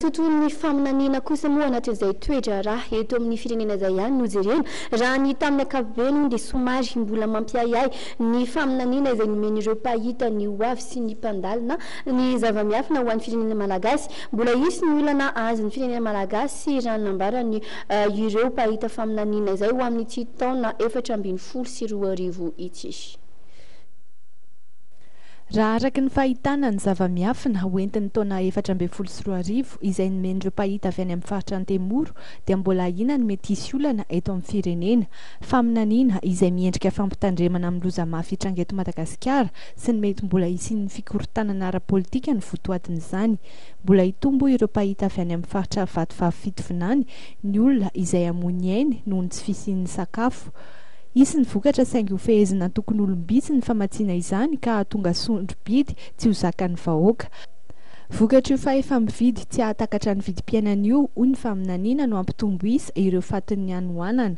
Tontolon'ny faminaniana kosa moa anatin'izay toe-draharaha eto amin'ny firenena izay ihany no jerena. Raha ny tamin'ny ankapobeny hono dia somary mbola mampiahiahy ny faminaniana izay nomen'ireo mpahita ny ho avy sy ny mpandalina ny zava-miafina ho an'ny firenena malagasy. Mbola hisy ny olana ahazin'ny firenena malagasy raha ny nambaran' ireo mpahita faminaniana izay ho amin'ity taona efatra ambin'ny folo sy roa arivo ity. Raha araka ny fahitana ny zava-miafina ho entin'ny taona efatra ambin'ny folo sy roa arivo izay nomen'ireo mpahita avy any amin'ny faritra Antemoro dia mbola ahiana ny mety hisy olana eto amin'ny firenena. Faminaniana izay miendrika fampitandremana amin'ny loza mafy hitranga eto Madagasikara sy ny mety mbola hisian'ny fikorontanana ara-politika no votoatin'izany. Mbola hitombo ireo mpahita avy any amin'ny faritra Vatovavy-Fitovinany ny olona izay hamoy ny ainy noho ny tsy fisian'ny sakafo. Hisy ny vokatra saingy hofehezina antokon'olom-bitsy ny famatsiana izany ka hahatonga sondro-bidy tsy ho zakan'ny vahoaka. Vokatr'io fahefa-mividy tsy hahatakatra ny vidim-piainana io, hoy ny faminaniana no hampitombo isa ireo fatin'ny hanoanana.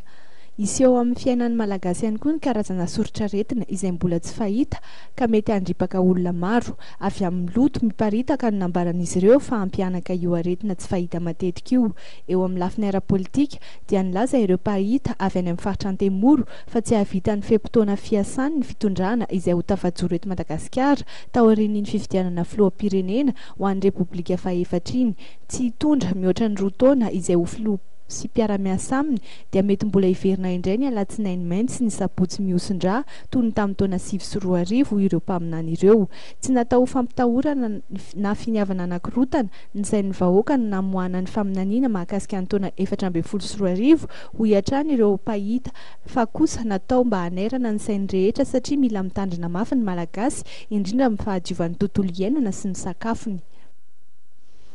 Hisy eo amin'ny fiainan'ny Malagasy ihany koa ny karazana soritr'aretina izay mbola tsy fahita ka mety handripaka olona maro. Avy amin'ny loto miparitaka no nambaran'izy ireo fa hampihanaka io aretina tsy fahita matetika io eo amin'ny lafiny ara-politika dia nilaza ireo mpahita avy any amin'ny faritra Antemoro fa tsy hahavita ny fe-potoana fiasany ny fitondrana izay ho tafajoro eto Madagasikara taorian'iny fifidianana filoham-pirenena ho an'ny Repoblika fahefatra iny. Tsy hitondra mihoatra ny roa taona izay ho filoha sy mpiara-miasa aminy dia mety mbola hiverina indray ny alatsinainy mainty sy ny sabotsy mihosin-drà toy ny tamin'ny taona sivy sy roa arivo ireo mpaminany ireo. Tsy natao ho fampitahorana na finiavana hanakorotana izay ny vahoaka no namoahana ny faminaniana mahakasika ny taona efatra ambin'ny folo sy roa arivo, hoy hatrany ireo mpahita, fa kosa natao mba hanairana ny sain'ny rehetra satria mila mitandrina mafy ny Malagasy, indrindra amin'ny fahadiovan'ny tontolo iainana sy ny sakafony.